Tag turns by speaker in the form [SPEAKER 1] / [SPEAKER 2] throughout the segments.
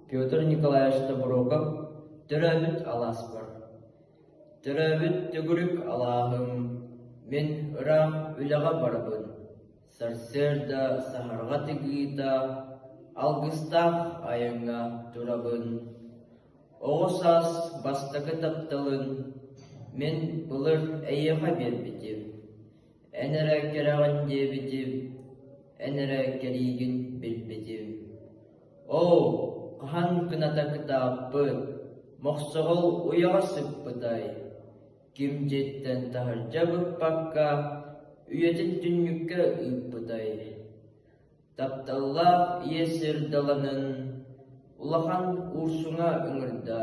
[SPEAKER 1] Петр Николаевич Тобуроков төрөөбүт алааспар Төрөөбүт төгүрүк алааһым, мин ыраах үлэҕэ барбын, сарсыарда саһарҕа тигиита, алгыстаах айаҥҥа турабын. Оҕо саас бастакы тапталын мин былыр эйиэхэ биэрбитим. Эн эрэ кэрэҕин диэбитим, эн эрэ кэриигин билбитим Оо, хаһан кыната кытааппыт, Мохсоҕол уйаҕа сыппытай Ким дьиттэн таһырдьа быкпакка, Үйэтин түннүккэ ыыппытай Тапталлаах иэс сир даланын, Улахан уурсуҥа ыҥырда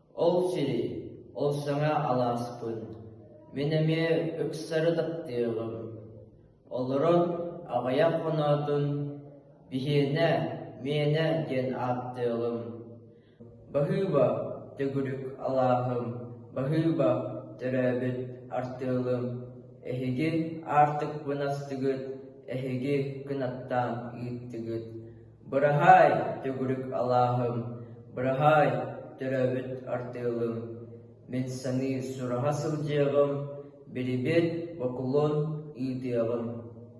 [SPEAKER 1] Ол сири, ол саҥа алааспын, мин эмиэ ыксары таптыаҕым. Олорон аҕыйах хоноотун «Биһиэнэ, миэнэ» диэн ааттыаҕым. Баһыыба, төгүрүк алааһым, баһыыба, төрөөбүт артыалым, эһиги аартыкпын астыгыт, эһиги кынаттаан ыыттыгыт Быраһаай, төгүрүк алааһым, быраһаай, төрөөбүт артыылым, мин саныы сураһа сылдьыаҕым, бирибит, бокулун ыытыаҕым